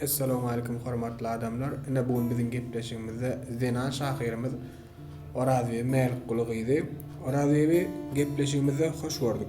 Essalamu aleýkum hormatly adamlar. Ine bu gün biziň gepleşigimizde zenan şahyrymyz Orazbibi Mälikguly gyzy Orazbibi gepleşigimizde hoş gördük.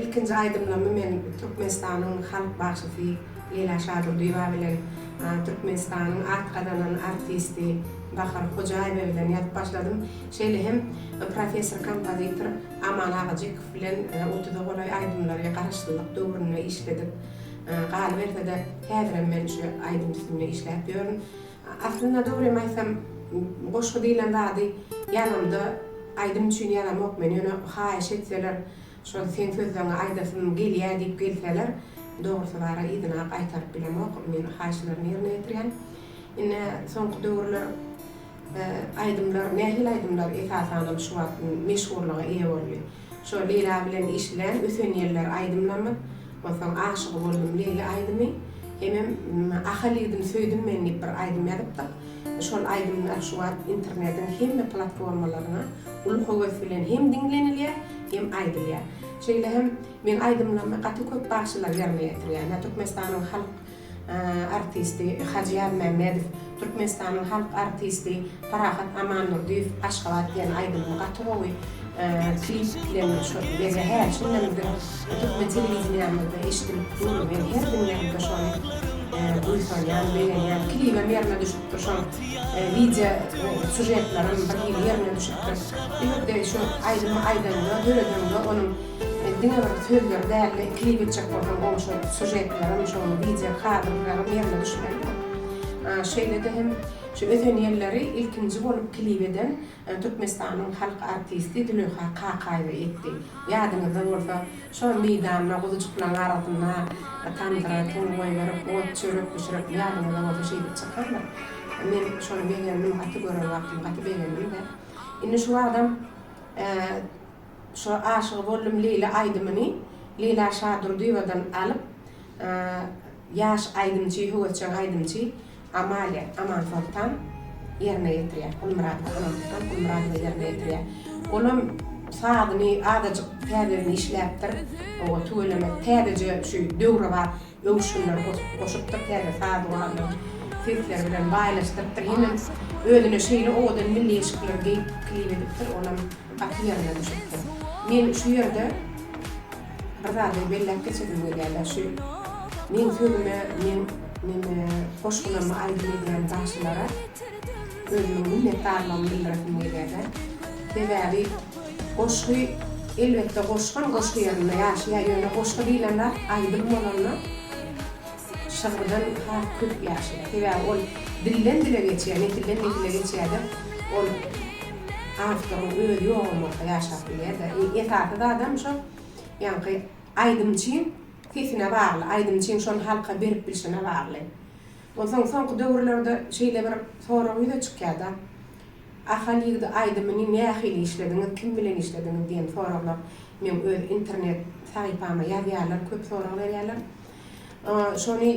Ilkinji aýdymlarymy men Türkmenistanyň halk bagşysy Leýla Şadurdyýewa bilen Türkmenistanyň at gazanan artisti Bahar Hojaýewa bilen ýazyp başladym. Şeýle hem professor kompozitor Aman Agajykow bilen otuza golaý aýdymlary garaşsyzlyk döwründe işledik. Galyberse-de, häzirem men şu aýdym üstünde işläp ýörün. Aslynda dogrymy aýtsam goşgy diýlen zady ýazamda aýdym üçin ýazamok men ýöne haýyş etseler şol seň sözleňi aýdasym gelýä diýip gelseler dogrusy bara yzynap aýtaryp bilemok men haýyşlaryny ýerine ýetirýän ine soňky döwürler aýdymlar nähili aýdymlar esasanam şu wagt meşhurlyga eýe boldy. Şol Leýla bilen eşilen Öten ýeller aýdymlamy, onsoň Aşygy boldum Leýli aýdymy, hemem Ahal ýigdim söýdüm men diýip bir aýdym ýazypdyk. Şol aýdymlar şu wagt internetiň hemme platformalaryna uly höwes bilen hem diňlenilýär, hem aýdylýar. Şeýle hem meň aýdymlarymy gaty köp bagşylar ýerine ýetirýär. Türkmenistanyň halk artisti Hajyýar Mämmedow, Türkmenistanyň halk artisti Parahat Amandurdyýew Aşgabat diýen aýdymyny gaty gowy klip bilen şu gije hä şundan öň türkmen telewideniýamyzda eşidilip dur men her diňlänimde şony buýsanýan begenýän klibem ýerine düşüpdir şoň wideo sužetlerem bir hili ýerine düşüpdir bu ýerde şu aýdymy aýdanda döredende onuň Men diňe bir sözleri dälde klip etjek bolsam gowy şol sujetlerim şol wideo kadrlarym ýerine düşmelidir. Şeýlede hem şu ösen ýylleri ilkinji bolup klip eden Türkmenistanyň halk artisti Züleýha Kakaýewa etdi. Ýadyňyzda bolsa şo meýdanda guzujyklaň arasynda tamdyra tum goýberip ot çörek bişirip ýadyňyzda bolsa şeýdip çykandyr. Men şony begendim gaty gören wagtym gaty begendim-de. Indi şu wagtam Şu Aşygy boldum Leýla aýdymyny Leýla Şadurdyýewadan alyp ýaş aýdymçy, höwesjeň aýdymçy Amalia Amansoltan ýerine ýetirýär. Gulmyradowa Anamysstan Gulmyradowa ýerine ýetirýär. Olam sazyny azajyk täzeden işläpdir. Oba tüweleme täzeje şu döwrebap. öwüşginler goşup, goşupdyr, täze saz guralyň sesleri bilen baýlaşdyrypdyr, hemem özüne şeýle owadan milli eşikleri geýip klip edipdir, olam gaty ýerine düşüpdir. Men şu ýerde bir zady belläp geçesim gelýär-de, şu meň sözüme, meň meni goşgularymy aýdym edýän bagşylara özümiň minnetdarlygymy bildiresim gelýär-de. Sebäbi Goşgy elbetde goşgam goşgy ýanynda ýaşaýar ýöne goşgy diýlen zat aýdym bolanda şygyrdan has köp ýaşaýar sebäbi ol dilden dile geçýär nesilden nesile geçýärde ol awtoryň özi ýogam bolsa ýaşap bilýärde esasy zadam şo ýaňky aýdymçyň sesine bagly aýdymçyň şony halka berip bilşine bagly onsoň soňky döwürlerde şeýle bir sorag ýüze çykýarda. Ahal ýigidi aýdymyny nähili işlediňiz, kim bilen işlediňiz diýen soraglar meň öz internet sahypama ýazýarlar, köp sorag berýärler. Şony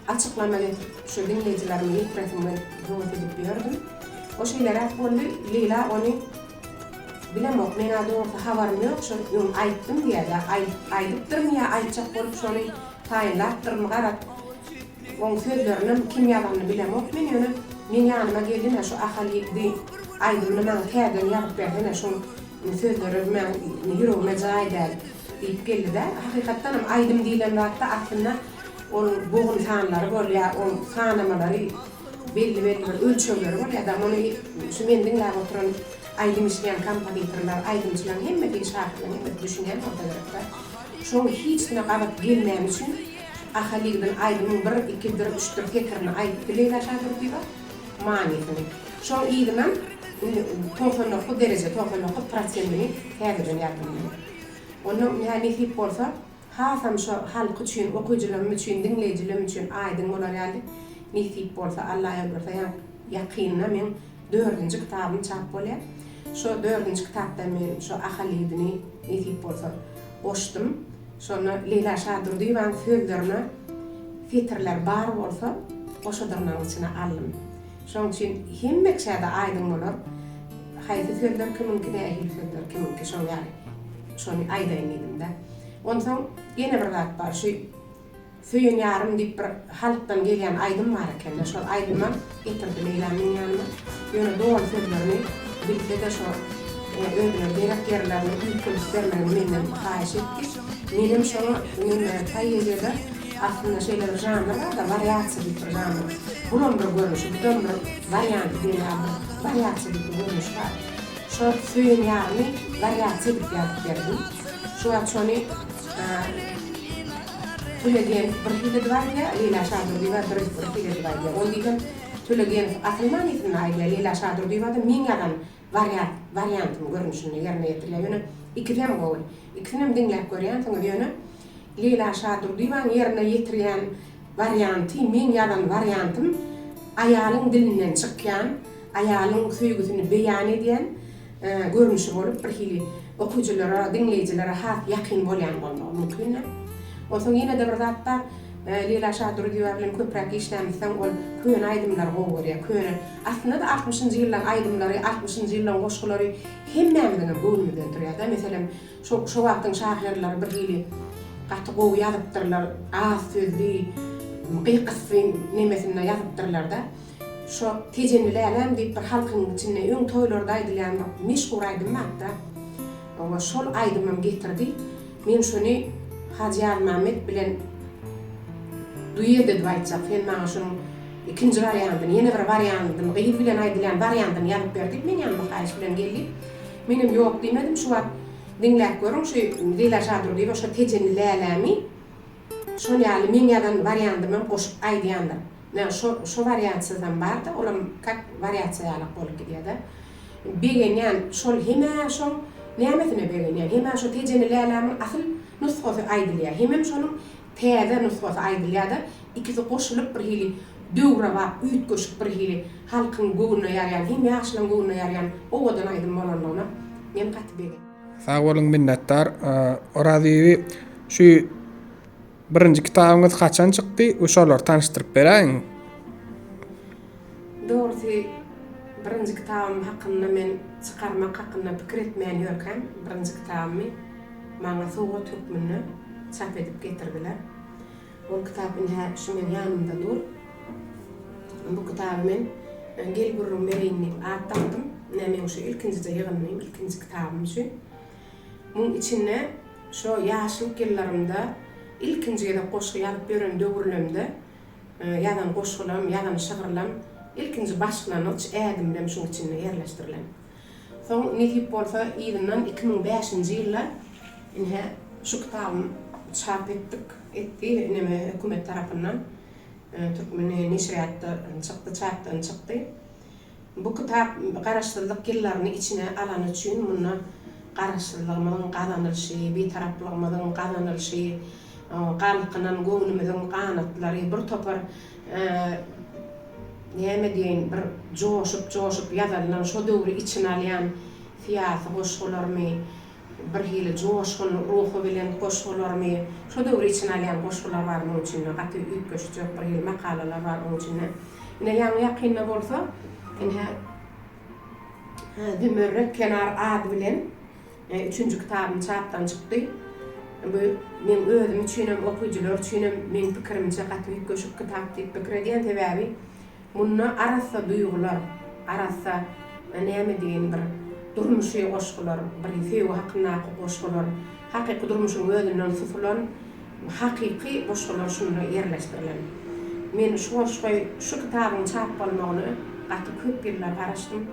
açyklamak edip, şu diňleýjilerime ýetresim gelip höwes edip ýördüm. O şeýleräk boldy, Leýla ony Bilemok, men-ä dogrusy habarym ýok, şo öň aýtdym diýýär, ýa aýdypdyrmy ýa aýtjak bolup şony taýynlapdyrmy, garaz, Oň sözlerinem kim ýazanyny bilemok men ýöne meň ýanyma geldine şu Ahal ýigdi aýdymyny maňa täzeden ýazyp bersene şoň sözleri meň ýüregime jaý däl diýip geldidä hakykatdanam aýdym diýlen zatda aslynda onuň bogun sanlary bolýa oň sanamalary belli belli bir ölçegleri bolýa da muny şu men diňläp oturan aýdym işleýän kompozitorlar aýdymçylaň hemmesi şahyryň hemmesi düşünýän bolsa gerekdä şoň hiç kime gabat gelmäni üçin Ahalygdyn aýdymyň bir ikidir üçdir setirini aýdyp bileý Daşa Dürdiýewa manysyny. Şoň yzynam indi togsan dokuz dereje togsan dokuz prosentini täzeden ýazdym men. Onda ýa nesip bolsa hasam şo halk üçin okyjylarym üçin diňleýjilerim üçin aýdyň bolar ýaly nesip bolsa Alla ýazgyrysa ýa ýakynda meň dördünji kitabym çap bolýa. Şo dördünji kitapda men şo Ahalygdyny nesip bolsa goşdum. Şonda Leýla Şadurdyýewanyň sözlerine setirler bar bolsa, goşadyrnagyň içine aldym. Şonuň üçin hemme kişä-de aýdyň bolar, haýsy sözler kimiňki, nähili sözler kimiňki, şoň ýaly şony aýdaýyn diýdim-de. Onsoň ýene bir zat bar, şu. Söýen ýarym diýip bir halkdan gelýän aýdym bar ekende şol aýdyma getirdi Leýla meň ýanyma ýöne doly sözlerini bilsede şo özüne gerek ýerlerini üýtgedip bermegini menden haýyş etdi menem şoňa mende poeziýada aslynda şeýle bir žanr barda wariasiýa diýip bir žanr bulam bir görnüşi budam bir warianty diýen ýaly bir wariasiýa diýip bir görnüş bar şo söýen ýarymy wariasiýa diýip ýazyp berdim şuwagt şony Tulegeýew bir hiledi bar diýýär, Leýla Şadurdyýewa bir bir hiledi bar diýýär. Ol diýsem, Tulegeýew asyl manysyny aýdýar, Leýla Şadurdyýewa-da meň ýazan wariat wariantym görnüşinde ýerine ýetirýär. Ýöne ikisem gowy. Ikisinem diňläp görýänsiňiz. Ýöne Leýla Şadurdyýewanyň ýerine ýetirýän warianty, meň ýazan wariantym aýalyň dilinden çykýan, aýalyň söýgüsini beýan edýän, görnüşi bolup, birhili okyjylara, diňleýjilere has ýakyn bolýan bolmagy mümkindir. Onsoň ýene-de bir zat bar, Leýla Şadurdyýewa bilen köpräk işlämmi soň ol köne aýdymlary gowy görýär. Köne, aslynda-da altmyşynjy ýyllaryň aýdymlary, altmyşynjy ýyllaryň goşgulary hemmämiziňem göwnümi döndürýär-de. Meselem, şo, şo wagtyň şahyrlary birhili gaty gowy ýazypdyrlar, az sözli, gyk-ysy nemesinde ýazypdyrlar-da. Şo Tejenli läläm diýip bir halkyň içinde öň toýlarda aýdylýan bir meşhur aýdym bapda. Oňa şol aýdymym getirdi. Men şony Hajy Ýazmämmet bilen duet edip aýtjak. Sen maňa şonuň ikinji wariantyny, ýene bir wariantyny, gyz bilen aýdylýan wariantyny ýazyp ber diýip men ýanyma haýyş bilen geldi. Menem ýok diýmedim. Şu wagt diňläp görüň şu Leýla Şadurdyýewa şo Tejenli lälämi şol ýaly meň ýazan wariantymam goşup aýdýandyr. Ýa şo şo wariantsyzam barda olam kak wariatsiýa ýalak bolup gidýäda. Begenýän şol hemä şoň nämesine begenýän hemä şo Tejeni Lälämiň asyl nusgasy aýdylýa hemem şonuň täze nusgasy aýdylýada ikisi goşulyp bir hili döwrebap üýtgeşik bir hili halkyň göwnüne ýarýan hem ýaşlaň göwnüne ýarýan owadan aýdym bolanlygyna men gaty begen. Sag boluň minnetdar Oraziýewi şu Birinji kitabyňyz haçan çykdy we şolary tanyşdyryp beräýiň. Dogrusy birinji kitabym hakynda men çykarmak hakynda pikir etmän ýörkäm birinji kitabymy maňa sowgat hökmünde çap edip getirdiler. Ol kitap ine-hä şu meň ýanymda dur. Bu kitaby men Gel gürrüň bereýin diýip at dakdym. Ine meň şu ilkinjije ýygyndyym, ilkinji kitabym şu. Muň içinde şo ýaşlyk ýyllarymda ilkinji gezek goşgy ýazyp ýören döwürlemde ýazan goşgylam, ýazan şygyrlam, ilkinji başlangyç ädimlem şuň içinde ýerleşdirilen. Soň nesip bolsa yzyndan iki müň bäşinji ýylda ine şu kitabym çap etdik, etdi ineme hökümet tarapyndan Türkmen neşirýatda çykdy, çapdan çykdy. Bu kitap Garaşsyzlyk ýyllaryny içine alany üçin munda Garaşsyzlygymyzyň gazanylyşy, Bitaraplygymyzyň gazanylyşy, galkynan göwnümiziň ganatlary, bir topar näme diýeýin, bir joşup-joşup ýazylan, şo döwri içine alýan syýasy goşgularymy, Birhili joşgun ruhy bilen goşgularymy, şo döwri içine alýan goşgular bar muň içinde, gaty üýtgeşik ýok birhili makalalar bar oň içinde. Ine ýaňy ýakynda bolsa, ine, Zümerret kenar ady bilen üçünji kitabym çapdan çykdy. Bu meň özüm üçinem, okyjylar üçinem meň pikirimçe gaty üýtgeşik kitap diýip pikir edýän, sebäbi Munda arassa duýgular, arassa näme diýeýin bir durmuşy goşgular, bir söýgi hakyndaky goşgular, hakyky durmuşyň özünden tutulan hakyky goşgular şunda ýerleşdirilen. Men şu goşgy, şu kitabyň çap bolmagyna gaty köp ýyllar garaşdym.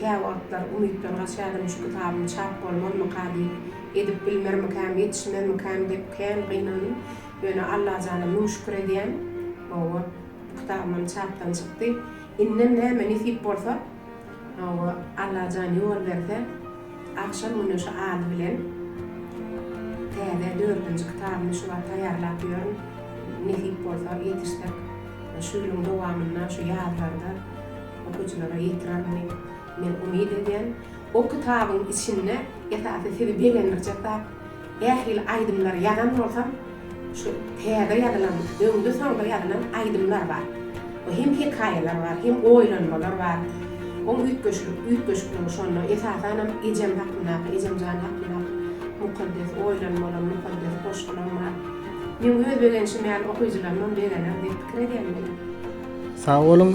Käwagtlar umytdan gaçýardym, şu kitabym çap bolmazmyka diýip, edip bilmermikäm, ýetişmezmikäm diýip kän gynandym. Ýöne Allajana müň şükür edýän, hawa, Kitabymam çapdan çykdy. Indem näme nesip bolsa, hawa, Allajan ýol berse, Agşam güneşi ady bilen täze dördünji kitabymy şu wagt taýýarlap ýörün. Nesip bolsa, ýetişsek, şu ýylyň dowamynda, şu ýazlarda okyjylara ýetirerin diýip, men umyt edýän. O kitabyň içinde esasy sizi begendirjek zat, Ähli aýdymlary ýazan bolsam, şu täze ýazylan, öňde-soňda ýazylan aýdymlar bar. Bu hem hekaýalar bar, hem oýlanmalar bar. Ol üýtgeşiklik, üýtgeşikligi şonda. Esasanam ejem hakyndaky, ejemjan hakyndaky mukaddes oýlanmalar, mukaddes goşgulam bar. Meň öz begenşim ýaly okyjylarymam begener diýip pikir edýän men. Sag boluň.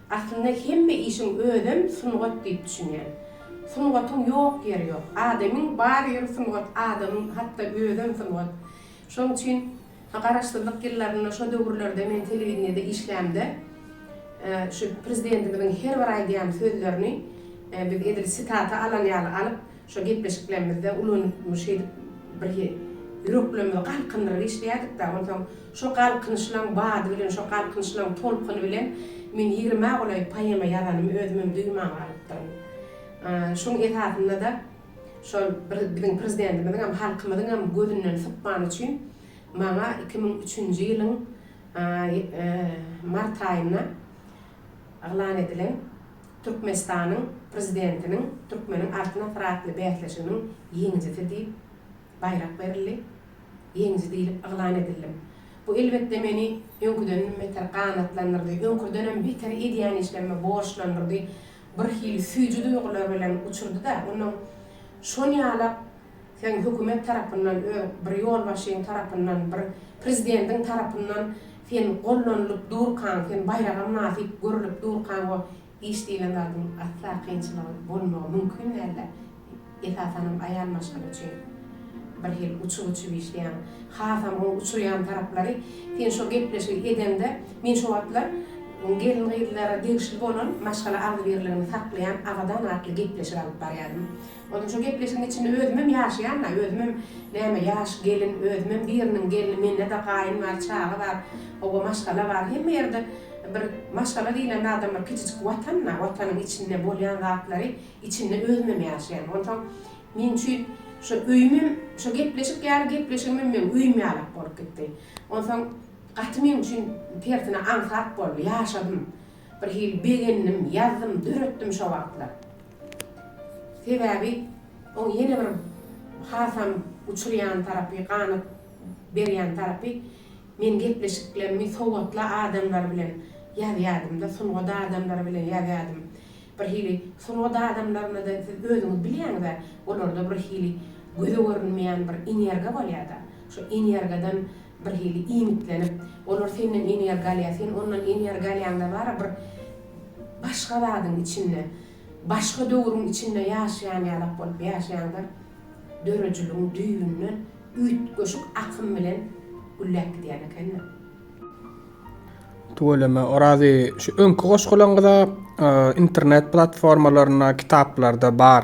Aslynda hemme işiň özem sungat diýip düşünýän. Sungatyň ýok ýeri ýok. Adamyň bar ýeri sungat, adamyň hatda özem sungat. Şonuň üçin Garaşsyzlyk ýyllarynda şo döwürlerde men telewideniýede işlämde şu prezidentimiziň her bir aýdýan sözlerini biz edil sitata alan ýaly alyp, şo gepleşiklerimizde ulanyp şeýdip bir ýüreklerimizi galkyndyryp işleýärdik-de, onsoň şo galkynyşlaň bady bilen, şo galkynyşlaň tolkuny bilen men ýigrimä golaý poema ýazanymy özümem duýman galypdyryn. Şoň esasynda-da şol bir biziň Prezidentimiziňem, halkymyzyňam gözünden sypmany üçin maňa iki müň üçünji ýylyň mart aýynda yglan edilen Türkmenistanyň Prezidentiniň Türkmeniň Altyn asyry atly bäsleşiginiň ýeňijisi diýip, baýrak berildi. Ýeňiji diýlip yglan edildim. Bu elbetde meni öňküdenem beter ganatlandyrdy, öňküdenem beter edýän işlerime borçlandyrdy, birhili süýji duýgular bilen uçurdy-da, onnoň şon ýalak, Sen hökümet tarapyndan öz bir ýolbaşçyň tarapyndan bir prezidentiň tarapyndan sen gollanylyp durkaň sen baýraga mynasyp görülip durkaň o iş diýlen zadyň asla kynçylygy bolmagy mümkin däldi esasanam aýal maşgala üçin bir hil uçub uçub işleýäň hasam o uçurýan taraplary sen şo gepleşigi edeňde men şo wagtlar gelin gyzlara degişli bolan maşgala agzybirligini saklaýan abadan atly gepleşik alyp barýadym. Onuň şo gepleşigiň içinde özümem ýaşaýan-da, özümem näme ýaş gelin, özümem biriniň gelni, mende-de gaýyn bar, çaga bar, hawa, maşgala bar, hemme ýerde bir maşgala diýlen zadam bir kiçijik watan-da, watanyň içinde bolýan zatlary içinde özümem ýaşaýan. Onsoň meň üçin şo öýümem, şo gepleşik ýaly gepleşigimem meň öýüm ýalak bolup gitdi. Onsoň gaty meň üçin tersine aňsat boldy, ýaşadym. Bir hili begendim, ýazdym, döretdim şo wagtlar. Sebäbi oň ýene bir hasam uçurýan tarapy, ganat berýän tarapy, men gepleşiklerimi sowatly adamlar bilen ýazýardym-da, sungat adamlary bilen ýazýardym. Bir hili sungat adamlaryna-da siz özüňiz bilýäňiz-ä, olarda bir hili göze görünmeýän bir energiýa bolýar-da. Şu energiýadan bir hili iýmitlenip, olar senden energiýa alýar, sen ondan energiýa alýaňda bara bir başga zadyň içinde, başga döwrüň içinde ýaşaýan ýalak bolup ýaşaýaňda döredijiligiň düýbünden üýtgeşik akym bilen gülläp gidýän ekeniň. Tüweleme, Orazi, şu öňki goşgulaň-da internet platformalarynda, kitaplarda bar.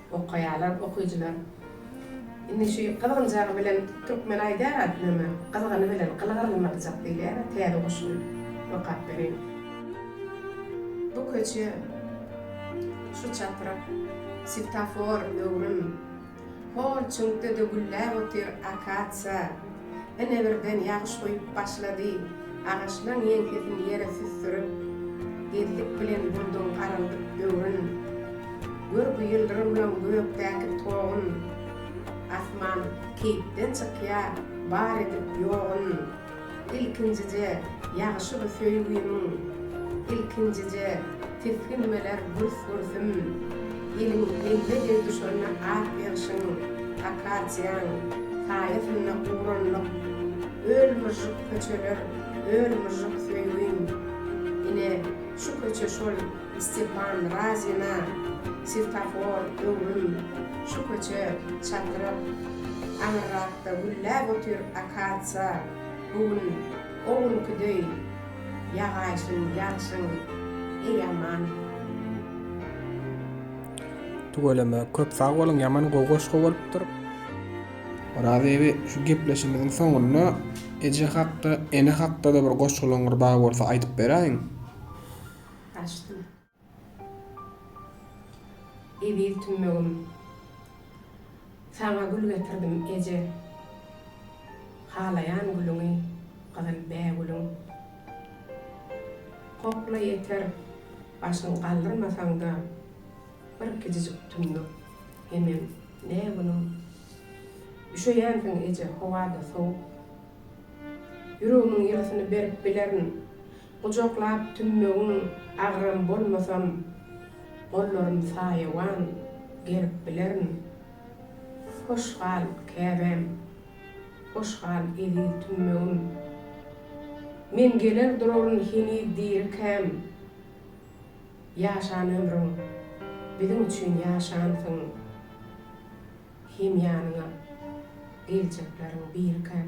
Okaýalar okyjylar indi şu gyzgynjagy bilen türkmen aýdar a name gyzgyny bilen gyly gyrylmajak diýilýär a täze goşgyny okap bereýin. Bu köçe şu çaprak Svetafor öwrüm Hor çüňkde-de gülläp otyr akatsiýa Ine birden ýagyş guýup başlady. Agaçlaň ýeňsesini ýere süsdürip, Gezdik bilen bulduň garaldyp böwrün. Görgi ýyldyrymlaň gökdäki togun, Asman keýpden çykýa bar edip ýogun. Ilkinjije ýagyşy bu söýgimiň, Ilkinjije tisginmeler gürs-gürsüm. Ýylyň ýeňňe degdüşigine ak ýagşyň, akasiýaň, saýasynda guranlyk, Öl myžžyk köçeler, öl myžžyk söýgin! Ine, şu köçe şol, Stepan, Razina, Swetafor, Öwrüm, şu köçe, Çatryk. Aňyrrakda gülläp otyr akasiýa, bu gün, o günki deý. Ýagaýsyn, ýagsyn, eý aman. Tüweleme köp sag boluň ýaman gowy goşgy bolupdyr. Oraz ebi şu gepleşimiziň soňunda eje hakda ene hakdada bir goşgylaňyz bar bolsa aýdyp beräýiň. Açdym. Eziz tümmegim, saňa gül getirdim, eje. Halaýan gülüňi, gyzyl bägülüň. Kokla ýeter, başyň galdyrmasaň-da, bir kijijik tümmek, hemem ne günüň. Üşeýänsiň, eje, howa-da sowuk. Ýüregimiň ýylysyny berip bilerin, Gujaklap tümmegiň agram bolmasam, Gollarym saýawan gerip bilerin. Hoş gal, Käbäm! Hoş gal, eziz tümmegim! Men geler duraryn heniz dirikäm. Ýaşan ömrüň, biziň üçin ýaşansyň. Hem ýanyňa geljekleriň birikäm.